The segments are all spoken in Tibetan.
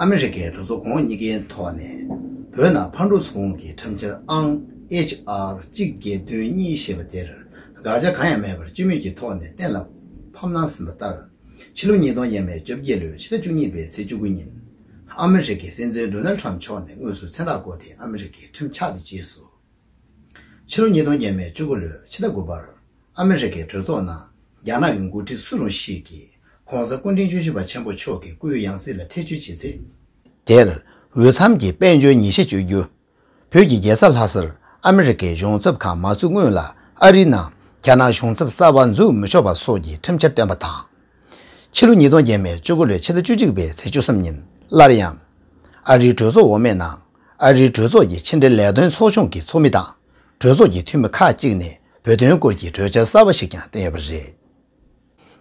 ཨ་མི་རི་ཀའི་གྲོས་ཚོགས་ཁོངས་གཉིས་ཀའི་ཐོག་ནས་བོད་ནང་ཕར་འགྲོ་ཚུར་འོང་གི་ཁྲིམས་འཆར་ཨང། HR། གཅིག་བརྒྱད་བདུན་གཉིས་ཞེས་པ་དེར་དགག་བྱ་གང་ཡང་མེད་པར་སྤྱི་མོས་ཀྱི་ཐོག་ནས་གཏན་ལ་ཕབ་གནང་ཟིན་པ་ལྟར། ཕྱི་ལོ་ཉིས་སྟོང་ཉེར་བརྒྱད་བཅོ་བརྒྱད་ལོའི་ཕྱི་ཟླ་བཅུ་གཉིས་པའི་ཚེས་བཅུ་དགུ་ཉིན། ཨ་མི་རི་ཀའི་སྲིད་འཛིན་རྡོ་ནལ་ཁྲམ་མཆོག་ནས་དངོས་སུ་མཚན་རྟགས་བཀོད་དེ་ཨ་མི་རི་ཀའི་ཁྲིམས་ཆགས་པའི་རྗེས་སུ། ཕྱི་ལོ་ཉིས་སྟོང་ཉེར་བཅུ་དགུ་ལོའི་ཕྱི་ཟླ་དགུ་པར། ཨ་མི་རི་ཀའི་གྲོས་ཚོགས་ནང་རྒྱ་ནག་གི་མགོ་ཁྲིད་སུ་རུང་ཞིག་གིས ྋགོང་ས ྋསྐུ་ཕྲེང་བཅུ་བཞི་པ་ཆེན་པོ་མཆོག་གི་སྐུའི་ཡང་སྲིད་ལ་ཐེ་བྱུས་བྱེད་ཚེ། དེར་འོས་འཚམ་གྱི་དཔལ་འབྱོར་ཉིན་ཤས་སྤྱོད་རྒྱུ། བོད་ཀྱི་རྒྱལ་ས་ལྷ་སར་ཨ་མི་རི་ཀའི་གཞུང་ཚབ་ཁང་མ་བཙུགས་སྔོན་ལ་ཨ་རིའི་ནང་རྒྱ་ནག་གཞུང་ཚབ་གསར་བ་འཛུགས་མི་ཆོག་པ་སོགས་ཀྱི་ཁྲིམས་འཆར་བཏོན་པ་དང། ཕྱི་ལོ་ཉིས་སྟོང་བརྒྱད་མའི་བཅུ་དགུ་ལོའི་ཕྱི་ཟླ་བཅུ་གཅིག་པའི་ཚེས་བཅུ་གསུམ་ཉིན་སླར་ཡང། ཨ་རིའི་གྲོས་ཚོགས་འོག་མའི་ནང་ཨ་རིའི་གྲོས་ཚོགས་ཀྱི་ཕྱི་འབྲེལ་ལས་དོན་ཚོགས་ཆུང་གི་ཚོགས་མི་དང། གྲོས་ཚོགས་ཀྱི་འཐུས་མི་ཁག་གཅིག་ནས་བོད་དོན་སྐོར་གྱི་གྲོས་འཆར་གསར་བ་ཞིག་ཀྱང་བཏོན་ཡོད་པ་རེད།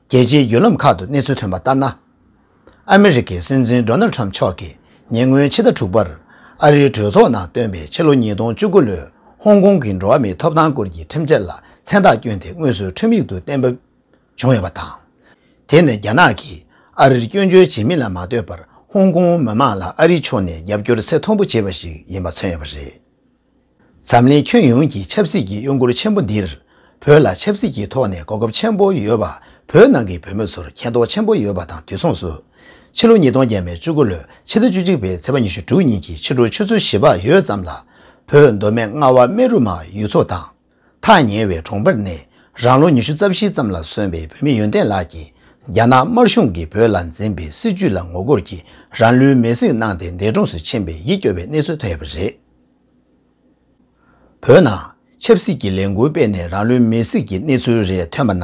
རྒྱལ་སྤྱིའི་བརྒྱུད་ལམ་ཁག་ཏུ་གནས་ཚུལ་ཐོན་པ་ལྟར་ན། ཨ་མི་རི་ཀའི་སྲིད་འཛིན Donald Trump མཆོག་གིས་ཉེ་སྔོན་ཕྱི་ཟླ་དྲུག་པར་ཨ་རིའི་གྲོས་ཚོགས་ནང་བཏོན་པའི་ཕྱི་ལོ་ཉིས་སྟོང་བཅུ་དགུ་ལོའི་ཧོང་ཀོང་གི་འགྲོ་བ་མིའི་ཐོབ་ཐང་སྐོར་གྱི་ཁྲིམས་འཆར་ལ་མཚན་རྟགས་བསྐྱོན་ཏེ་དངོས་སུ་ཁྲིམས་ཡིག་ཏུ་གཏན་འབེབས་བྱུང་ཡོད་པ་དང། དེ་ནི་རྒྱ་ནག་གིས་ཨ་རིར་སྐྱོན་བརྗོད་བྱེད་མིན་ལ་མ་ལྟོས་པར་ཧོང་ཀོང་མི་མང་ལ་ཨ་རིའི་ཕྱོགས་ནས་རྒྱབ་སྐྱོར་ཚད་མཐོན་པོ་བྱེད་པ་ཞིག་ཡིན་པ་མཚོན་ཡོད་པ་རེད། འཛམ་གླིང་ཁྱོན་ཡོངས་ཀྱི་ཆབ་སྲིད་ཀྱི་གཡོ་འགུལ་ཆེན་པོ་འདིར་བོད་ལ་ཆབ་སྲིད་ཀྱི་ཐོག་ནས་གོ་སྐབས་ཆེན་པོ་ཡོད་པ་བོད་ནང་གི་བོད་མི་ཚོར་མཁྱེན་རྟོགས་ཆེན་པོ་ཡོད་པ་དང་དུས་མཚུངས་སུ། ཕྱི་ལོ་ཉིས་སྟོང་བརྒྱད་མའི་བཅུ་དགུ་ལོའི་ཕྱི་ཟླ་བཅུ་གཅིག་པའི་ཚེས་པ་ཉི་ཤུ་དྲུག་ཉིན་གྱི་ཕྱི་དྲོ་ཆུ་ཚོད་བཞི་པ་ཡོལ་ཙམ་ལ། བོད་མདོ་སྨད་རྔ་བ་སྨད་རུ་མ་ཡུལ་ཚོ་དང། ཐག་ཉེ་བའི་གྲོང་པར་ནས་རང་ལོ་ཉི་ཤུ་རྩ་བཞི་ཙམ་ལ་སོན་པའི་བུད་མེད་ཡོན་ཏན་ལགས་ཀྱིས་རྒྱ་ནག་དམར་གཞུང་གིས་བོད་ལ་འཛིན་པའི་སྲིད་ཇུས་ལ་ངོ་རྒོལ་གྱིས་རང་ལུས་མེར་བསྲེགས་གནང་སྟེ་འདས་གྲོངས་སུ་ཕྱིན་པའི་ཡིད་སྐྱོ་བའི་གནས་ཚུལ་ཐོན་ཡོད་པ་རེད། བོད་ནང་ཆབ་སྲིད་ཀྱི་ལས་འགུལ་སྤེལ་ནས་རང་ལུས་མེར་བསྲེགས་ཀྱི་གནས་ཚུལ་རེ་ཐོན་པ་ན་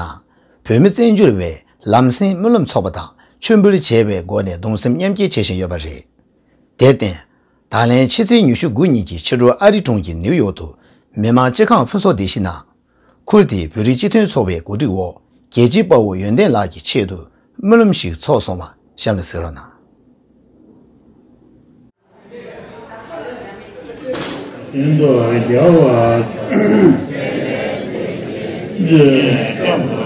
བོད་མི་བཙན་བྱོལ་བའི་ལམ་སེང་སྨོན་ལམ་ཚོགས་པ་དང་མཆོད་འབུལ་བྱེད་པའི་སྒོ་ནས་གདུང་སེམས་མཉམ་སྐྱེ་བྱེད་བཞིན་ཡོད་པ་རེད། དེར་བརྟེན། ད་ལན་ཕྱི་ཚེས་ཉི་ཤུ་དགུ་ཉིན་གྱི་ཕྱི་དྲོར་ཨ་རི་གྲོང་ཁྱེར་ནེའུ་ཡོག་ཏུ། མི་དམངས་སྤྱི་ཁང་ཕུན་ཚོགས་སྡེ་བཞི་ནང། ཁུལ་དེའི་བོད་རིགས་སྤྱི་མཐུན་ཚོགས་པའི་གོ་སྒྲིག་འོག་རྒྱལ་སྤྱིའི་དཔའ་བོ་ཡོན་ཏན་ལགས་ཀྱི་ཆེད་དུ་སྨོན་ལམ་ཞིག་ཚོགས་སོང་བ་གཤམ་ལ་གཟིགས་རོགས་གནང། སེམས་དཔའ་རྒྱལ་བ། རྗེས་དཔག་ན།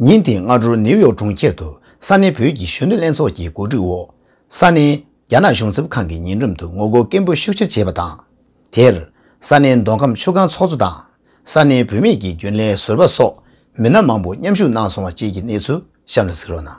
ཉིན་དེའི་སྔ་དྲོར་ནེའུ་ཡོག་གྲོང་ཁྱེར་དུ་ས་གནས་བོད་ཀྱི་གཞོན་ནུ་ལྷན་ཚོགས་ཀྱི་གོ་སྒྲིག་འོག་ས་གནས་རྒྱ་ནག་གཞུང་ཚབ་ཁང་གི་ཉེ་འགྲམ་དུ་ངོ་རྒོལ་སྐད་འབོད་ཤུགས་ཆེར་བྱས་པ་དང། དེར་ས་གནས་མདོ་ཁམས་ཆུ་སྒང་ཚོགས་གཙོ་དང་ས་གནས་བུད་མེད་ཀྱི་རྒྱུན་ལས་ཟུར་པ་སོགས་མི་སྣ་མང་པོ་མཉམ་ཞུགས་གནང་སོང་བ་བཅས་ཀྱི་གནས་ཚུལ་གཤམ་ལ་གཟིགས་རོགས་གནང།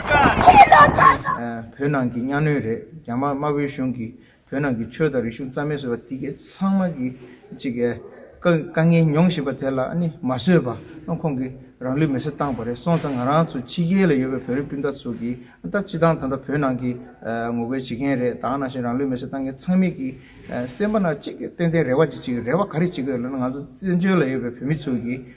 བོད་ནང་གི་གཉའ་གནོན་རེད་རྒྱ་དམར་དམར་བོའི་གཞུང་གིས་བོད་ནང་གི་ཆོས་དང་རིག་གཞུང་རྩ་མེད་བཟོས་པ་དེ་གས་ཚང་མ་གི་གཅིག་གས་དཀའ་ངལ་མྱོང་བཞིན་པ་དེ་ལ་ནི་མ་བཟོད་པ་ཨང་ཁོང་གིས་རང་ལུས་མེར་སྲེག་བཏང་བ་རེད་སོང་ཙང་ང་རང་ཚོ་ཕྱི་རྒྱལ་ལ་ཡོད་པའི་བོད་རིགས་སྤུན་ཟླ་ཚོ་གི་ད་སྤྱི་དང་ད་ལྟ་བོད་ནང་གི་ངོ་རྒོལ་བྱེད་མཁན་རེད་དང་ནང་བཞིན་རང་ལུས་མེར་སྲེག་བཏང་མཁན་ཚང་མིག་གི་སེམས་པ་ན་གཅིག་གས་ཏན་ཏན་རེ་བ་ཅིག་གཅིག་རེ་བ་ག་རེ་བྱེད་དགོས་ལ་ན་ང་ཚོ་བཙན་བྱོལ་ལ་ཡོད་པའི་བོད་མི་ཚོ་གི་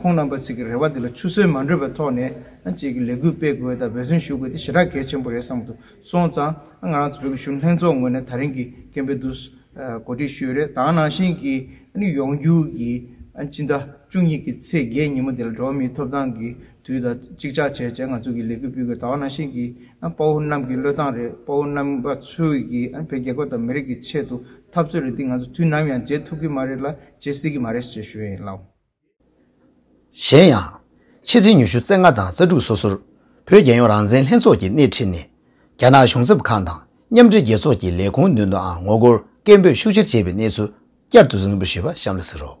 ཁོང་རྣམ་པ་ཚིག་གི་རེ་བ་འདི་ལ་ཆུ་ཟོལ་མ་འདྲུད་པའི་ཐོག་ནས་བཅས་ཀྱི་ལས་འགུལ་སྤེལ་དགོས་དང་འབད་བརྩོན་ཞུ་དགོས་དེ་ཞེ་དྲག་གལ་ཆེན་པོ་རེད་བསམ་དུ་སོང་ཙང་ང་རང་ཚོ་བོད་ཀྱི་གཞུང་ལྷན་ཚོགས་ངོས་ནས་ད་རིང་གི་སྐད་འབོད་དུ་གོ་སྒྲིག་ཞུས་རེད་དང་ནང་བཞིན་གྱི་ནི་ཡོང་རྒྱུ་ཡི་སྤྱི་ཟླ་བཅུ་གཉིས་ཀྱི་ཚེས་བརྒྱད་ཉིན་མོ་འདི་ལ་འགྲོ་བ་མིའི་ཐོབ་ཐང་གི་དུས་དང་གཅིག་ཆག་བྱས་རྗེས་ང་ཚོ་གིས་ལས་འགུལ་སྤེལ་དགོས་དང་ནང་བཞིན་གྱི་དཔའ་བོ་རྣམས་ཀྱི་བློས་བཏང་རེད་དཔའ་བོ་རྣམ་པ་ཚོས་ཀྱི་བོད་རྒྱལ་ཁབ་དང་མི་རིགས་ཀྱི་ཆེད་དུ་འཐབ་རྩོད་རེད་འདི་ང་ཚོ་དུས་ནམ་ཡང་བརྗེད་ཐུབ་ཀྱི་མ་རེད་ལ་བརྗེད་སྲིད་ཀྱི་མ་རེད་ཅེས་ཞུ་ཡི་ཡིན་ལགས། གཞན་ཡང། ཕྱི་ཚེས་ཉི་ཤུ་ཚེས་ལྔ་དང་གསར་འགྲུག་སོ་སོར། བོད་རྒྱལ་ཡོངས་རང་བཙན་ལྷན་ཚོགས་ཀྱི་སྣེ་ཁྲིད་ནས། རྒྱ་ནག་གཞུང་ཚབ་ཁང་དང་མཉམ་འབྲེལ་རྒྱལ་ཚོགས་ཀྱི་ལས་ཁུངས་མདུན་དུའང་ངོ་རྒོལ་སྐད་འབོད་ཤུགས་ཆེར་བྱས་པའི་གནས་ཚུལ་བསྐྱར་དུ་གཟིགས་འབུལ་ཞུས་པ་གཤམ་ལ་གཟིགས་རོགས།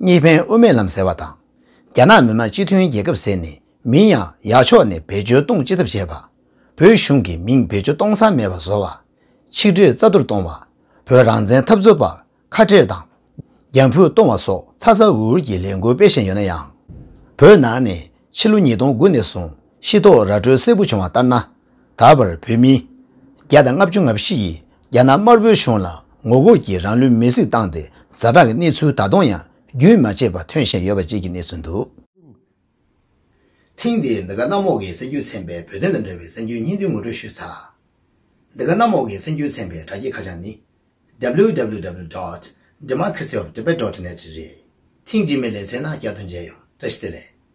གཉིས་ཕན་དབུ་མའི་ལམ་ཟེར་བ་དང། རྒྱ་ནག་མི་དམངས་སྤྱི་མཐུན་རྒྱལ་ཁབ་ཟེར་ནས་མིང་ཡང་ཡག་ཕྱོགས་ནས་བེད་སྤྱོད་གཏོང་ཅི་ཐབས་བྱས་པ། བོད་གཞུང་གི་མིང་བེད་སྤྱོད་གཏོང་ས་མེད་པ་བཟོ་བ། ཆིག་སྒྲིལ་རྩ་གཏོར་གཏོང་བ། བོད་རང་བཙན་འཐབ་རྩོད་པ་ཁ་བྲལ་དང། རྒྱ་འཕུད་གཏོང་བ་སོགས་ཚ་ཚ་འུར་འུར་གྱི་ལས་འགུལ་སྤེལ་བཞིན་ཡོད་ན་ཡང། བོད་ནང་ནས་ཕྱི་ལོ་ཉིས་སྟོང་དགུ་ནས་བཟུང་ཤི་ཐོག་ར་སྤྲོད་སེར་པོ་བྱུང་བ་ལྟར་ན། ད་བར་བོད་མི་བརྒྱ་དང་ལྔ་བཅུ་ང་བཞི་ཡིས་རྒྱ་ནག་དམར་པོའི་གཞུང་ལ་ངོ་རྒོལ་གྱིས་རང་ལུས་མེར་བསྲེགས་བཏང་སྟེ་ཛ་དྲག་གི་གནས་ཚུལ་ད་དུང་ཡང་རྒྱུན་མ་ཆད་པར་ཐོན་བཞིན་ཡོད་པ་བཅས་ཀྱི་གནས་ཚུལ་འདུག། ཐེངས་འདིའི་འདི་ག་གནམ་འོག་གི་སེམས་རྒྱུད་ཚན་པའི་བོད་དོན་དང་འབྲེལ་བའི་སེམས་རྒྱུད་སྙིང་བསྡུས་ངོ་སྤྲོད་ཞུས་ཚར། འདི་ག་གནམ་འོག་གི་སེམས་རྒྱུད་ཚན་པའི་དྲ་རྒྱའི་ཁ་བྱང་ནི། www dot democracy of tibet dot net རེད། ཐེངས་འདིའི་མི་ལས་ཚན་ནང་བསྐྱར་དུ་མཇལ་ཡོང་བཀྲ་ཤིས་བདེ་ལེགས།